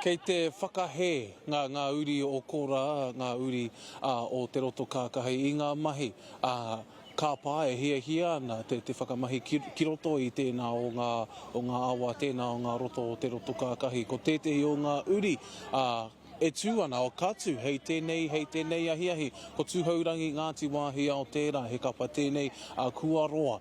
Kei te whakahē ngā ngā uri o Kora, ngā uri a o Te Roto Kākahi, i ngā mahi, ā, kāpā e hiahia ana te, te whakamahi ki, ki roto i tēnā o ngā, o ngā awa, tēnā o ngā roto o Te Roto Kākahi. Ko tētehi o ngā uri, ā, e tū ana, o ka tū, hei tēnei, hei tēnei ahiahi, ko Tūhourangi Ngāti Wāhiao tērā, he kapa tēnei a Kuaroa.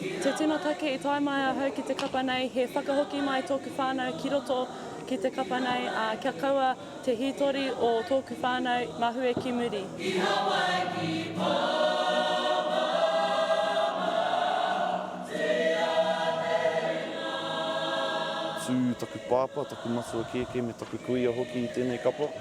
Te tino take i tae mai ahau ki te kapa nei, he whakahoki mai tōku whānau ki roto ki te kapa nei, ā, kia kaua te hītori o tōku whānau mahue ki muri. I Hawaiki Pāmama te āheinga. Tū taku pāpā, taku matua kēkē me taku kuia hoki i tēnei kapa.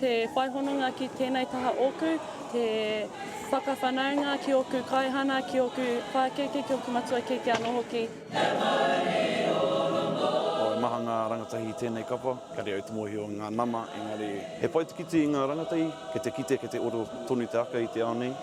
Te whai hononga ki tēnei taha ōku, te whakawhanaunga ki ōku kaihana, ki ōku pākeke, ki ōku matua kēkē anō hoki. He mauri o Rongo. Oh, e maha ngā rangatahi i tēnei kapa, kare au te mōhio i ngā nama, engari he whaitikiti i ngā rangatahi, kei te kite, kei te oro tonu te aka i te ao nei.